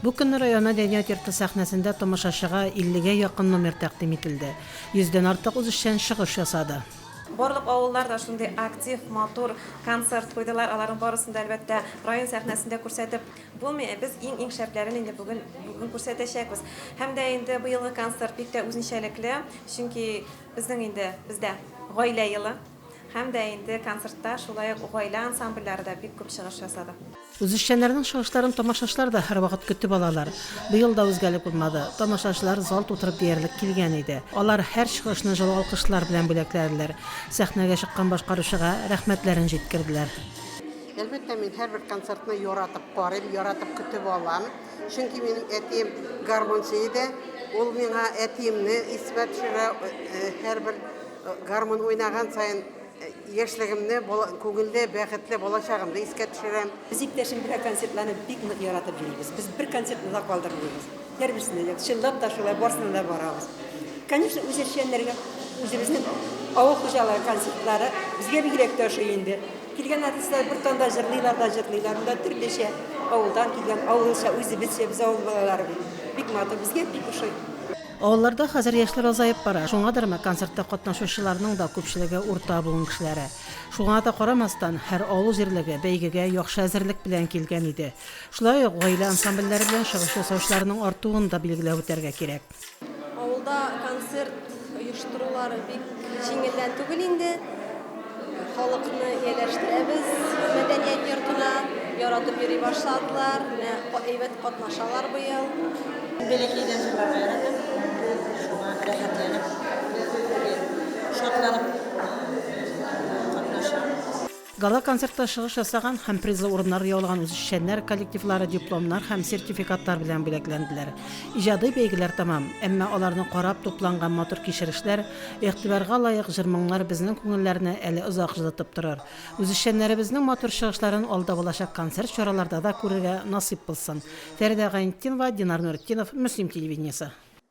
Бу көнне район мәдәният йорты сәхнәсендә тамашачыга 50 гә якын номер тәкъдим ителде. Йөздән артык үзешчән чыгыш ясады. Барлык авыллар да шундый актив, матур концерт куйдылар. Аларның барысын да, әлбәттә, район сәхнәсендә күрсәтеп булмый. Ә без иң-иң шәпләрен инде бүген бүген күрсәтәчәкбез. Һәм дә инде быелгы концерт бик тә үзенчәлекле, чөнки безнең инде бездә гаилә елы. Һәм дә инде концертта шулай ук гаилә ансамбльләре дә бик күп чыгыш ясады. Үзешчәннәрнең чыгышларын тамашачылар да һәрвакыт көтеп алалар. Быел да үзгәлек булмады. Тамашачылар зал тутырып диярлек килгән иде. Алар һәр чыгышны җылы алкышлар белән бүләкләделәр. Сәхнәгә чыккан башкаручыга рәхмәтләрен җиткерделәр. Әлбәттә, мин һәрбер концертны яратып карыйм, яратып көтеп алам. Чөнки минем әтием гармунчы иде. Ул миңа әтиемне искә төшерә һәрбер. Гармун уйнаган саен яшьлегемне, күңелле, бәхетле балачагымны искә төшерәм. Без иптәшем белән концертларны бик нык яратып йөрибез. Без бер концертны да калдырмыйбыз. Һәрберсенә дә, чынлап та шулай, барсына да барабыз. Конечно, үз эшчәннәргә үзебезнең авыл хуҗалыгы концертлары безгә бигрәк тә ошый инде. Килгән артистлар бер танда җырлыйлар да җырлыйлар, монда төрлечә авылдан килгән, авылча, үзебезчә, без авыл балалары бит. Бик матур, безгә бик ошый. Авылларда хәзер яшьләр азаеп бара, шуңадырмы, концертта катнашучыларның да күпчелеге урта буын кешеләре. Шуңа да карамастан, һәр авыл җирлеге бәйгегә яхшы әзерлек белән килгән иде. Шулай ук гаилә ансамбльләре белән чыгыш ясаучыларның артуын да билгеләп үтәргә кирәк. Авылда концерт оештырулар бик җиңелдән түгел инде. Халыкны ияләштерәбез мәдәният йортына. Яратып йөри башладылар. Менә әйбәт катнашалар быел. Бәләкәйдән җырларга яратам. Шуңа рәхәтләнеп, шатланып катнашам. Гала-концертта чыгыш ясаган һәм призлы урыннар яулаган үзешчәннәр коллективлары дипломнар һәм сертификатлар белән бүләкләнделәр. Иҗади бәйгеләр тәмам, әмма аларны карап тупланган матур кичерешләр Игътибарга лаек җыр-моңнар безнең күңелләрне әле озак җылытып торыр. Үзешчәннәребезнең матур чыгышларын алда булачак концерт чараларда да күрергә насыйп булсын. Фәридә Гайнетдинова, Динар Нуретдинов, Мөслим телевидениесе.